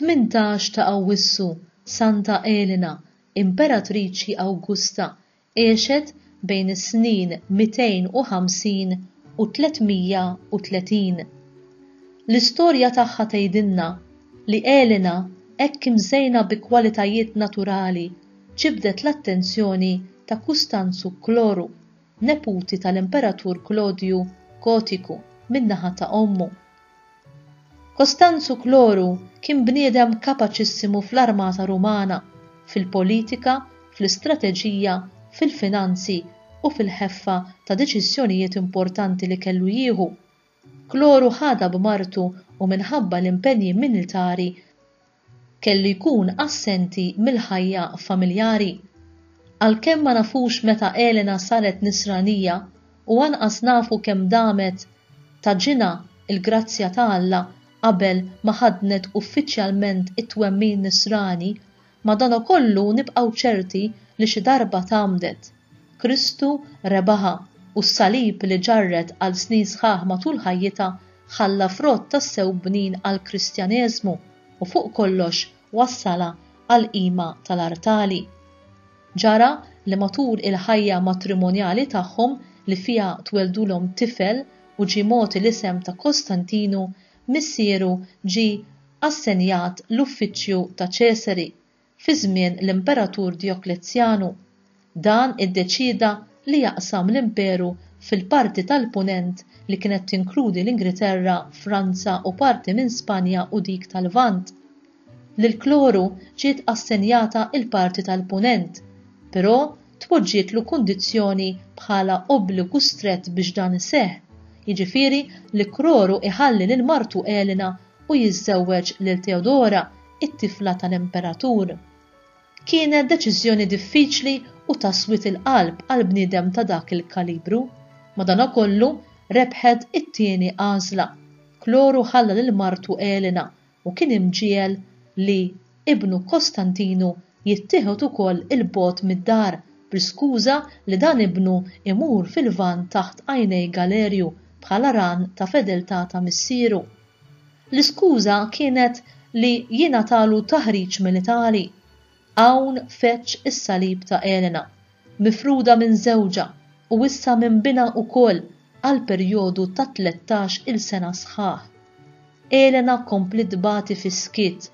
Tmintax ta' Awwissu, Santa Elena, Imperatriċi Awgusta, Għexet bejn is-snin 250 u 330. L-istorja tagħha tgħidilna li Elena hekk imżejna bi kwalitajiet naturali ġibdet l-attenzjoni ta' Kustanzu Kloru, neputi tal-Imperatur Klodju Gotiku min-naħa ta' ommu. Costanzu Cloru kien bniedem kapaċissimu fl-armata Rumana, fil-politika, fl-istrateġija, fil-finanzi u fil-ħeffa ta' deċiżjonijiet importanti li kellu jieħu. Cloru ħadha b'martu u minħabba l-impenji militari kellu jkun assenti mill-ħajja familjari. Għalkemm ma nafux meta Elena saret Nisranija u anqas nafu kemm damet ta' ġinha l-grazzja ta' Alla qabel ma ħaddnet uffiċjalment it-twemmin Nisrani, madankollu nibqgħu ċerti li xi darba tgħammdet. Kristu rebaħha, u s-salib li ġarret għal snin sħaħ matul ħajjitha ħalla frott tassew bnin għall-Kristjaneżmu u fuq kollox wassalha għall-qima tal-artali. Ġara li matul il-ħajja matrimonjali tagħhom li fiha tweldulhom tifel u ġie mogħti l-isem ta' Kostantinu, missieru ġie assenjat l-uffiċċju ta' Ċesari, fi żmien l-Imperatur Dioklezzjanu. Dan iddeċieda li jaqsam l-imperu fil-parti tal-Punent li kienet tinkludi l-Ingriterra, Franza u parti minn Spanja u dik tal-Lvant. Lil Kloru ġiet assenjata l-parti tal-Punent, però tpoġġietlu kundizzjoni bħala obbligu strett biex dan iseħħ, jiġifieri li Kroru jħalli lil martu Elena u jiżżewweġ lil Teodora, it-tifla tal-imperatur. Kienet deċiżjoni diffiċli u ta' swied il-qalb għal bniedem ta' dak il-kalibru. Madankollu, rebħet it-tieni għażla. Kloru ħalla lil martu Elena u kien imġiegħel li ibnu Kostantinu jittieħed ukoll 'il bogħod mid-dar bl-iskuża li dan ibnu jmur fil-Lvant taħt għajnej Galerju bħala ran ta' fedeltà ta' missieru. L-iskuża kienet li jingħatalu taħriġ militari. Hawn feġġ is-salib ta' Elena, mifruda minn żewġha u issa minn binha wkoll għal perjodu ta' tlettax-il sena sħaħ. Elena kompliet tbati fis-skiet.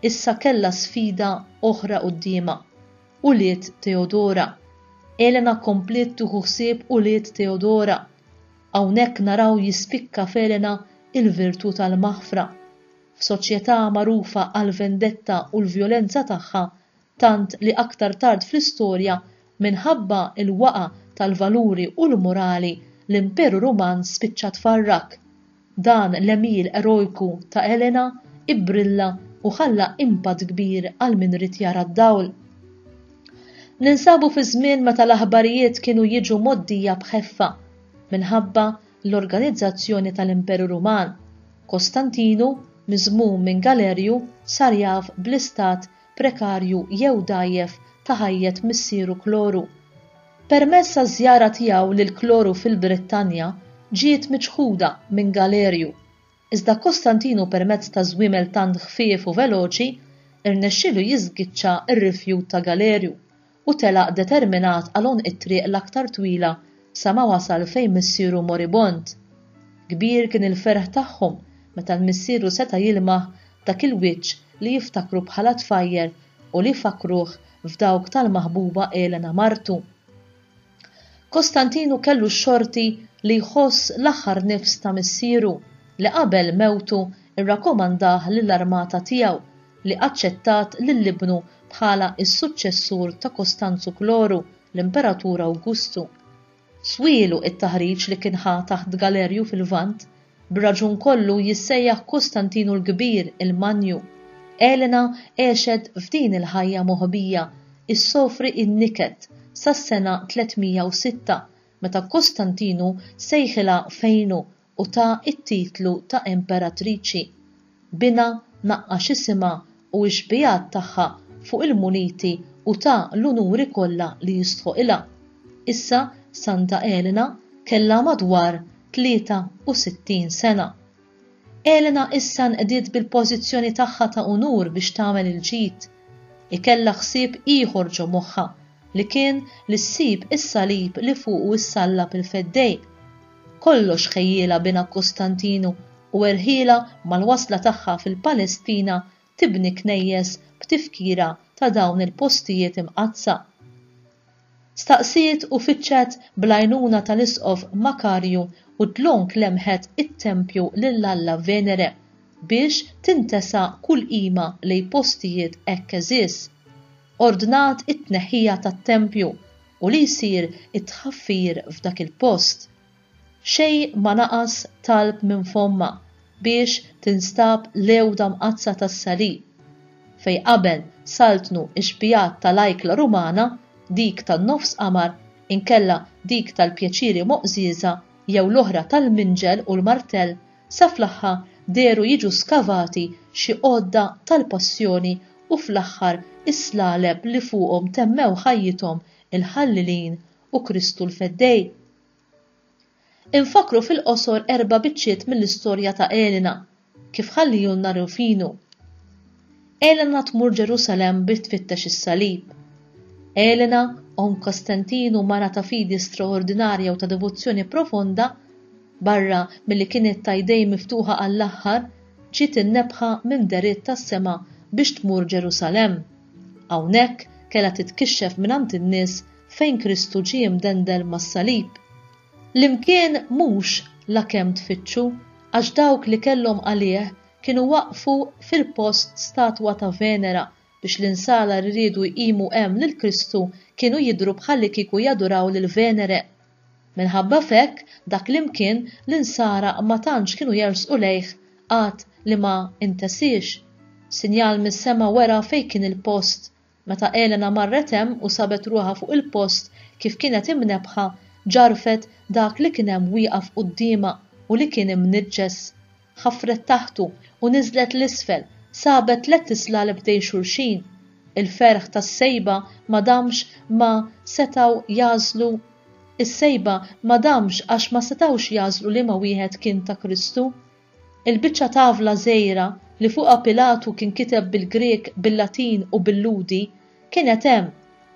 Issa kellha sfida oħra quddiemha, ulied Teodora. Elena kompliet tieħu ħsieb ulied Teodora. Hawnhekk naraw jispikka f'Elena il-virtù tal-maħfra. F'soċjetà magħrufa għall-vendetta u l-vjolenza tagħha, tant li aktar tard fl-istorja, minħabba l-waqgħa tal-valuri u l-morali, l-Imperu Ruman spiċċa tfarrak. Dan l-għemil erojku ta' Elena bbrilla u ħalla impatt kbir għal min ried jara d-dawl. Ninsabu fi żmien meta l-aħbarijiet kienu jiġu mgħoddija b'ħeffa minħabba l-organizzazzjoni tal-Imperu Ruman. Kostantinu, miżmum minn Galerju, sar jaf bl-istat prekarju jew dgħajjef ta' ħajjet missieru Kloru. Permezz taż-żjara tiegħu lil Kloru fil-Brittanja ġiet miċħuda minn Galerju. iżda Kostantinu permezz ta' żwiemel tant ħfief u veloċi rnexxielu jiżgiċċa r-rifjut ta' Galerju u telaq determinat għal għonq it-triq l-aktar twila sa ma wasal fejn missieru moribond. Kbir kien il-ferħ tagħhom meta l-missieru seta' jilmaħ dak il-wiċċ li jiftakru bħala tfajjel u li fakkruh f'dawk tal-maħbuba Elena martu. Kostantinu kellu x-xorti li jħoss l-aħħar nifs ta' missieru, li qabel mewtu rrakomandah lill-armata tiegħu, li aċċettat lil ibnu bħala s-suċċessur ta' Kostanzu Kloru, l-Imperatur Awgustu. Swielu t-taħriġ li kien ħa taħt Galerju fil-Lvant B'raġun kollu jissejjaħ Kustantinu l-Kbir il-Manju. Elena għexet f'din il-ħajja moħbija, issofri n-niket, sas-sena 306, meta Kustantinu sejħilha fejnu u tagħha t-titlu ta' imperatriċi. Binha, naqqax isimha u x-xbiehat tagħha fuq il-muniti u ta l-unuri kollha li jistħoqilha. Issa Santa Elena kellha madwar 63 sena. Elena issa nqdiet bil-pożizzjoni tagħha ta' unur biex tagħmel il-ġid. Hi kellha ħsieb ieħor ġo moħħha li kien li ssib is-salib li fuqu ssallab il-Feddej. Kollox ħejjielha binha Kostantinu u erħielha mal-wasla tagħha fil-Palestina tibni knejjes b'tifkira ta' dawn il-postijiet imqaddsa. Staqsiet u fittxet bl-għajnuna tal-Isqof Makarju u dlonk lemħet it-tempju lil Alla Venere biex tintesa kull qima lejn postijiet hekk għeżież. Ordnat it-tneħħija tat-tempju u li jsir it-tħaffir f'dak il-post. Xejn ma naqas talb minn fommha biex tinstab l-għewda mqaddsa tas-Salib. Fejn qabel saltnu x-xbijat ta' l-ajkla Rumana, dik tan-nofs qamar inkella dik tal-pjaċiri moqżieża jew l-oħra tal-minġel u l-martell Sa fl-aħħa dehru jiġu skavati xi għodda tal-Passjoni u fl-aħħar is-slaleb li fuqhom temmew ħajjithom il-Ħallilin u Kristu l-Feddej. Infakkru fil-qosor erba' biċċiet mill-istorja ta' Elena, kif ħallihulna Rufinu. Elena tmur Ġerusalemm biex tfittex is-salib. Elena, omm Kostantinu, mara ta' fidi straordinarja u ta' devozzjoni profonda, barra milli kienet ta' jdejn miftuħa għall-aħħar, ġiet imnebbħa minn dehriet tas-sema biex tmur Ġerusalemm. Hawnhekk kellha titkixxef mingħand in-nies fejn Kristu ġie mdendel mas-salib. L-imkien mhux la kemm tfittxu, għax dawk li kellhom għalih kienu waqqfu fil-post statwa ta' Venera biex l-insara li riedu jqimu hemm lil Kristu kienu jidhru bħallikieku jaduraw lil Venere. Minħabba f'hekk, dak l-imkien l-insara ma tantx kienu jersqu lejh għad li ma intesiex. Sinjal mis-sema wera fejn kien il-post Meta Elena marret hemm u sabet ruħha fuq il-post kif kienet imnebbħa, ġarfet dak li kien hemm wieqaf quddiemha u li kien imniġġes. Ħafret taħtu u niżlet 'l isfel, sabet tlett islal b'dej xulxin. Il-ferħ tas-sejba ma damx ma setgħu jagħżlu Is-sejba ma damx għax ma setgħux jagħżlu liema wieħed kien ta' Kristu. Il-biċċa tavla żgħira li fuqha Pilatu kien kiteb bil-Grieg, bil-Latin u bil-Lhudi kienet hemm,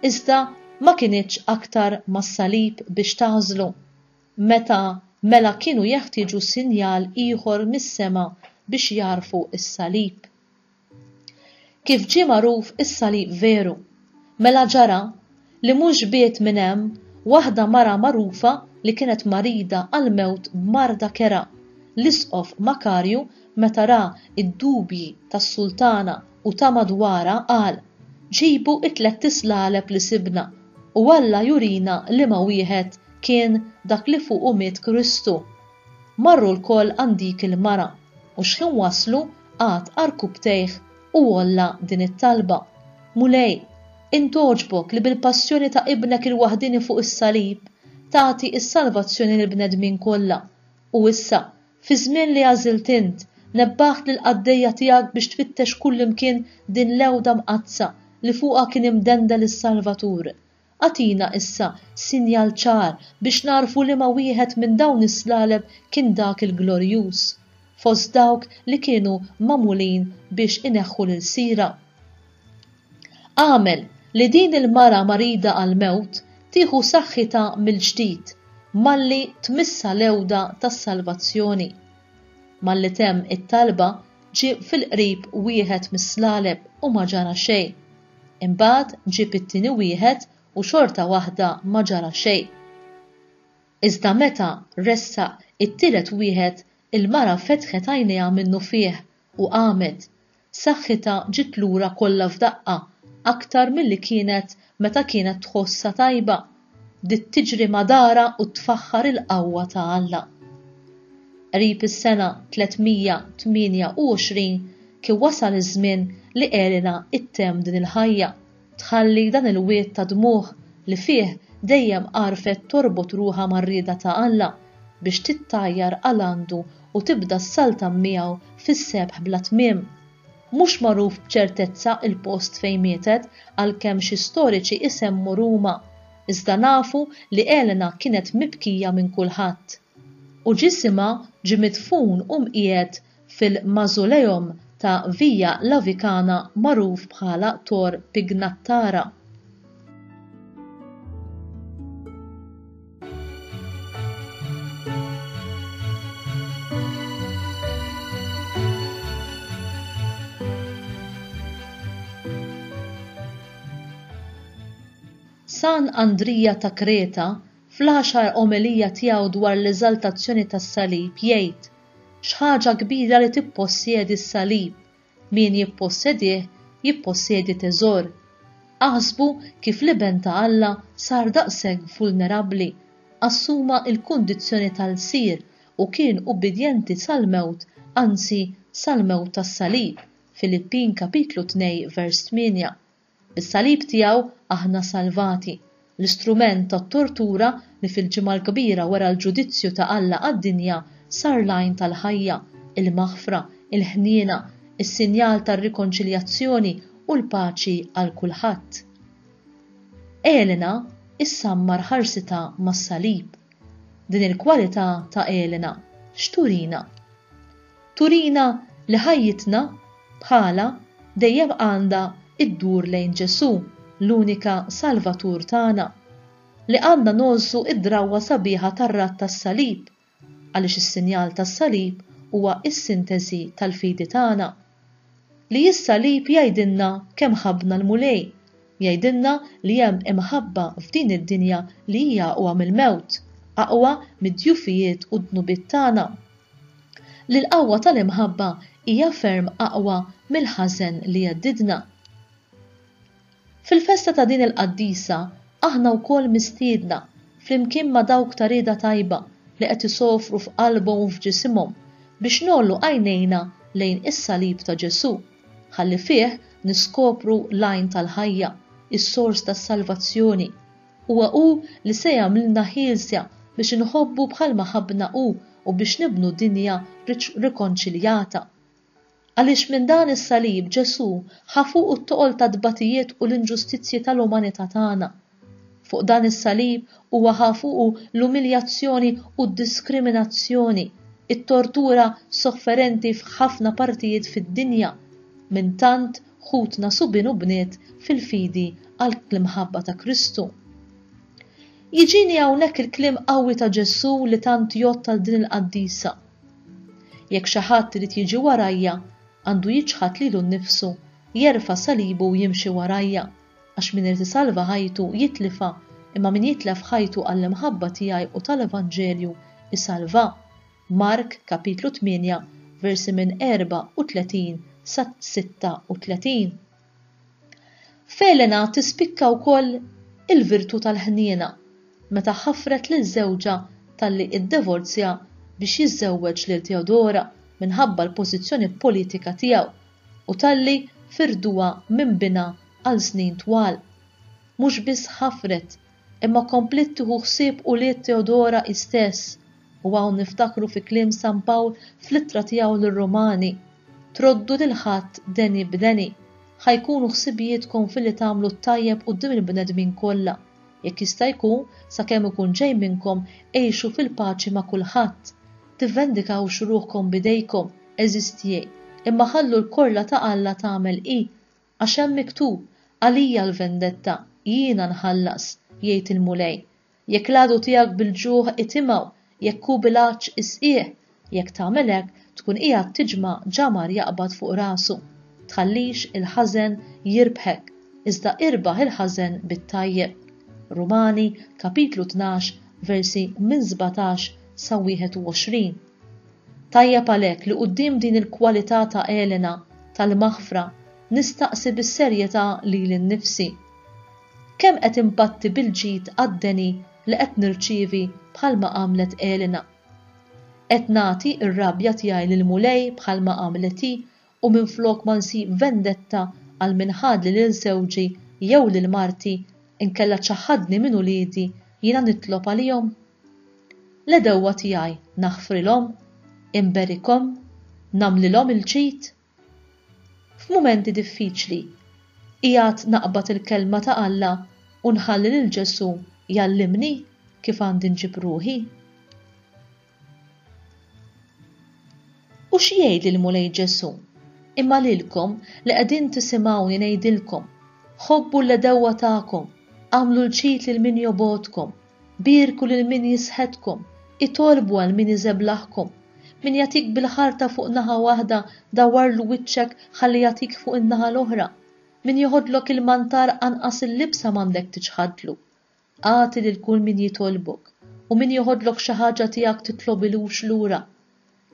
iżda ma kinitx aktar mas-salib biex tagħżlu. Meta mela kienu jeħtieġu sinjal ieħor mis-sema biex jagħrfu s-salib? Kif ġie magħruf is-salib veru? Mela ġara li mhux biegħed minn hemm waħda mara magħrufa li kienet marida għall-mewt b'marda kerha, l-Isqof Makarju meta ra d-dubji tas-sultana u ta' madwarha qal, Ġibu t-tlett islaleb li sibna, u Alla jurina liema wieħed kien dak li fuqu miet Kristu. Marru lkoll għand dik il-mara, u xħin waslu qagħad għarkupptejh u għolla din it-talba, Mulej, int għoġbok li bil-passjoni ta' Ibnek il-waħdieni fuq is-salib tagħti s-salvazzjoni lill-bnedmin kollha, u issa, fiż-żmien li għażilt int, nebbaħt lill-qaddejja tiegħek biex tfittex kullimkien din l-għewda mqaddsa li fuqha kien imdendel is-Salvatur. Agħtina issa sinjal ċar biex nagħrfu liema wieħed minn dawn is-slaleb kien dak il-glorjuż, fost dawk li kienu magħmulin biex ineħħu l-ilsira. Agħmel li din il-mara marida għall-mewt tieħu saħħitha mill-ġdid malli tmissha l-għewda tas-salvazzjoni. Malli temm it-talba, ġie fil-qrib wieħed mis-slaleb u ma ġara xejn. Imbagħad ġieb it-tieni wieħed u xorta waħda ma ġara xejn. Iżda meta ressaq it-tielet wieħed il-mara fetħet għajnejha minnufih u qamet. Saħħitha ġiet lura kollha f'daqqa, aktar milli kienet meta kienet tħossha tajba. bdiet tiġri ma' darha u tfaħħar il-qawwa ta' Alla. Qrib is-sena 328 kien wasal iż-żmien li Elena ttemm din il-ħajja, tħalli dan il-wied ta' dmugħ li fih dejjem għarfet torbot ruħha mar-rieda ta' Alla biex tittajjar għal għandu u tibda ssaltan miegħu fis-sebħ bla tmiem. Mhux magħruf b'ċertezza l-post fejn mietet għalkemm xi storiċi isemmu Ruma, iżda nafu li Elena kienet mibkija minn kulħadd. U ġisimha ġie midfun u mqiegħed fil-mausoleum ta' Via Lavicana magħruf bħala Tor Pignattara. San Andrija ta' Kreta fl-għaxar omelija tiegħu dwar l-eżaltazzjoni tas-salib jgħid, X'ħaġa kbira li tippossjedi s-salib, Min jippossedih jippossedi teżor. Aħsbu kif l-Iben ta' Alla sar daqshekk vulnerabbli, assuma l-kundizzjoni ta' lsir u kien ubbidjenti sal-mewt, anzi, sal-mewt tas-salib, Filippin kapitlu tnej vers tmienja. Bis-salib tiegħu aħna salvati. L-istrument tat-tortura li fil-Ġimgħa l-Kbira wera l-ġudizzju ta' Alla għad-dinja sar l-għajn tal-ħajja, il-maħfra, il-ħniena, is-sinjal tar-rikonċiljazzjoni u l-paċi għal kulħadd. Elena issammar ħarsitha mas-salib. Din il-kwalità ta' Elena x'turina? Turina li ħajjitna, bħalha, dejjem għandha ddur lejn Ġesù, l-unika Salvatur tagħna. Li għandna ngħożżu d-drawwa sabiħa tar-radd tas-salib, għaliex is-sinjal tas-salib huwa s-sinteżi tal-fidi tagħna. Li s-salib jgħidilna kemm ħabbna l-Mulej, jgħidilna li hemm imħabba f'din id-dinja li hija aqwa mill-mewt, aqwa mid-djufijiet u d-dnubiet tagħna. li l-qawwa tal-imħabba hija ferm aqwa mill-ħażen li jheddidna. Fil-festa ta' din il-qaddisa aħna wkoll mistiedna, flimkien ma' dawk ta' rieda tajba li qed isofru f'qalbhom u f'ġisimhom, biex ngħollu għajnejna lejn is-salib ta' Ġesù, ħalli fih niskopru l-għajn tal-ħajja, is-sors tas-salvazzjoni. Huwa hu li se jagħmlna ħielsa biex inħobbu bħalma ħabbna hu u biex nibnu dinja rikonċiljata. Għaliex minn dan is-salib Ġesù ħa fuqu t-toqol tat-tbatijiet u l-inġustizzji tal-umanità tagħna. Fuq dan is-salib huwa ħa fuqu l-umiljazzjoni u d-diskriminazzjoni, it-tortura sofferenti f'ħafna partijiet fid-dinja minn tant ħutna subien u bniet fil-fidi għall-imħabba ta' Kristu. Jiġini hawnhekk il-kliem qawwi ta' Ġesù li tant jgħodd għal din il-qaddisa. Jekk xi ħadd irid jiġi warajja, għandu jiċħad lilu nnifsu, jerfa' salibu u jimxi warajja, għax min irid isalva ħajtu jitlifha, imma min jitlef ħajtu għall-imħabba tiegħi u tal-Evanġelju, isalvha. Mark kapitlu 8 versi minn 34 sa 36. F'Elena tispikka wkoll il-virtù tal-ħniena meta ħafret lil żewġha talli iddevorzja biex jiżżewweġ lil Teodora minħabba l-pożizzjoni politika tiegħu u talli firduha minn binha għal snin twal. Mhux biss ħafret Imma kompliet tieħu ħsieb ulied Teodora hi stess, u hawn niftakru fi kliem San Pawl fl-Ittra tiegħu lir-Rumani, Troddu lil ħadd deni b'deni. Ħa jkunu ħsibijietkom filli tagħmlu t-tajjeb quddiem il-bnedmin kollha. Jekk jista' jkun, sakemm ikun ġej minnkom, għixu fil-paċi ma' kulħadd. Tivvendikawx ruħkom b'idejkom, għeżiż tiegħi, imma ħallu l-korla ta' Alla tagħmel hi Għax hemm miktub, Għalija l-vendetta, jiena nħallas, jgħid il-Mulej. Jekk l-għadu tiegħek bil-ġuħ itimgħu, jekk hu bil-għatx isqih, jekk tagħmel hekk, tkun qiegħed tiġma' ġamar jaqbad fuq rasu. Tħallix il-ħażen jirbħek, iżda irbaħ il-ħażen bit-tajjeb. Rumani, kapitlu tnax, versi minn sbatax sa wieħed u għoxrin. Tajjeb għalhekk li quddiem din il-kwalità ta' Elena tal-maħfra nistaqsi bis-serjetà lili nnifsi, Kemm qed inbatti bil-ġid għad-deni li qed nirċievi bħalma għamlet Elena? Qed nagħti r-rabja tiegħi lill-Mulej bħalma għamlet hi u minflok ma nsib vendetta għal min ħadli lil żewġi jew lil marti inkella ċaħħadni minn uliedi jiena nitlob għalihom? L-għedewwa tiegħi naħfrilhom? Inberikhom? Nagħmlilhom il-ġid? F'mumenti diffiċli, qiegħed naqbad il-Kelma ta' Alla u nħalli lil Ġesù jgħallimni kif għandi nġib ruħi? U x'jgħidli l-Mulej Ġesù? Imma lilkom li qegħdin tisimgħuni ngħidilkom, ħobbu l-għedewwa tagħkom, agħmlu l-ġid lil min jobgħodkom, Bierku lil min jisħetkom, itolbu għal min iżeblaħkom. Min jagħtik bil-ħarta fuq naħa waħda, dawwarlu wiċċek ħalli jagħtik fuq in-naħa l-oħra. Min joħodlok il-mantar anqas il-libsa m'għandek tiċħadlu. Agħti lil kull min jitolbok, u min joħodlok xi ħaġa tiegħek titlobilux lura.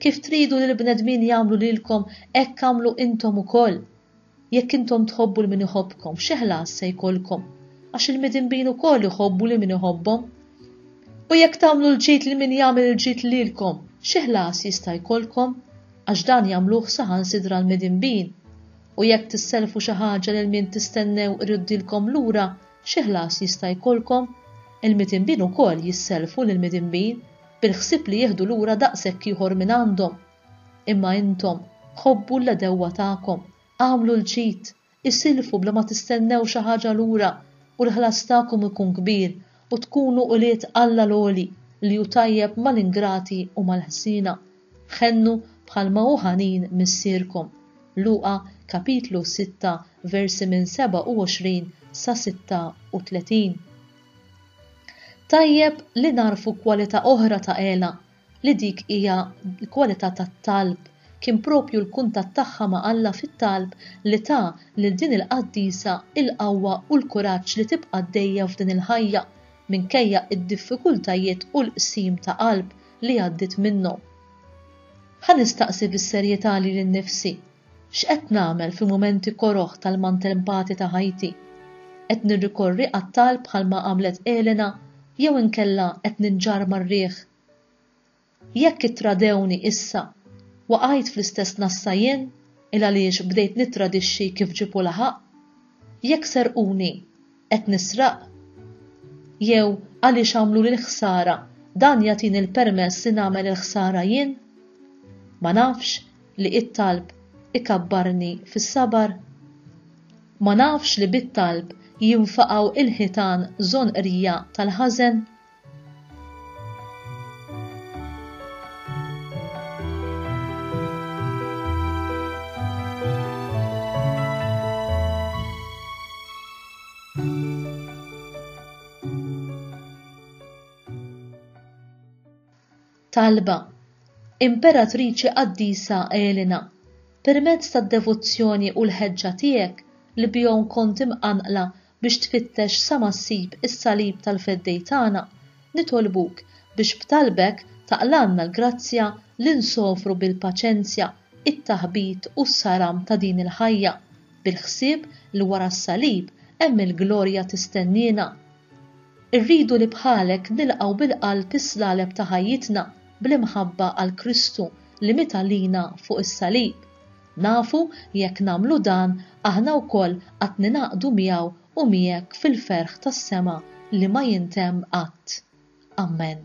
Kif tridu li l-bnedmin jagħmlu lilkom hekk agħmlu intom ukoll. Jekk intom tħobbu 'l min iħobbkom, xi ħlas se jkollkom? Għax il-midinbin ukoll iħobbu lil min iħobbhom. U jekk tagħmlu l-ġid lil min jagħmel il-ġid lilkom, xi ħlas jista' jkollkom? Għax dan jagħmluh saħansitra l-midinbin. U jekk tissellfu xi ħaġa lil min tistennew iruddilkom lura, xi ħlas jista' jkollkom? Il-midinbin ukoll jissellfu lill-midinbin. bil-ħsieb li jieħdu lura daqshekk ieħor minn għandhom. Imma intom, ħobbu l-għedewwa tagħkom, agħmlu l-ġid, isilfu bla ma tistennew xi ħaġa lura, u l-ħlas tagħkom ikun kbir, u tkunu ulied Alla l-għoli, li hu tajjeb mal-ingrati u mal-ħżiena. Ħennu bħalma hu ħanin Missierkom. Luqa, kapitlu 6, versi minn 27 sa 36. Tajjeb li nagħrfu kwalità oħra ta' Ela, li dik hija l-kwalità tat-talb. Kien proprju l-kuntatt tagħha ma' Alla fit-talb li ta lil din il-qaddisa l-qawwa u l-kuraġġ li tibqa' għaddejja f'din il-ħajja, minkejja d-diffikultajiet u l-qsim ta' qalb li għaddiet minnhom. Ħa nistaqsi bis-serjetà lili nnifsi, X'qed nagħmel fi mumenti koroh tal-maltempati ta' ħajti? Qed nirrikorri għat-talb bħalma għamlet Elena jew inkella qed ninġarr mar-riħ? Jekk ittradewni issa, waqajt fl-istess nassa jien il-għaliex bdejt nittradixxi kif ġipu laħaq? Jekk serquni, Qed nisraq? Jew għaliex għamluli l-ħsara, dan jagħtini l-permess li nagħmel il-ħsara jien? Ma nafx li it-talb ikabbarni fis-sabar? Ma nafx li bit-talb jinfaqgħu l-ħitan żonqrija tal-ħażen? Talba Imperatriċi Qaddisa Elena, permezz tad-devozzjoni u l-ħeġġa tiegħek li bihom kont imqanqla Biex tfittex sa ma ssib is-salib tal-Feddej tagħna, nitolbuk biex b'talbek taqlgħalna l-grazzja li nsofru bil-paċenzja t-taħbit u s-saram ta' din il-ħajja, bil-ħsieb li wara s-salib hemm il-glorja tistenniena. Irridu li bħalek nilqgħu bil-qalb is-slaleb ta' ħajjitna bl-imħabba għal Kristu li miet għalina fuq is-salib. Nafu li jekk nagħmlu dan, aħna wkoll qatt ningħaqdu miegħu u miegħek fil-ferħ tas-sema li ma jintemm qatt. Ammen.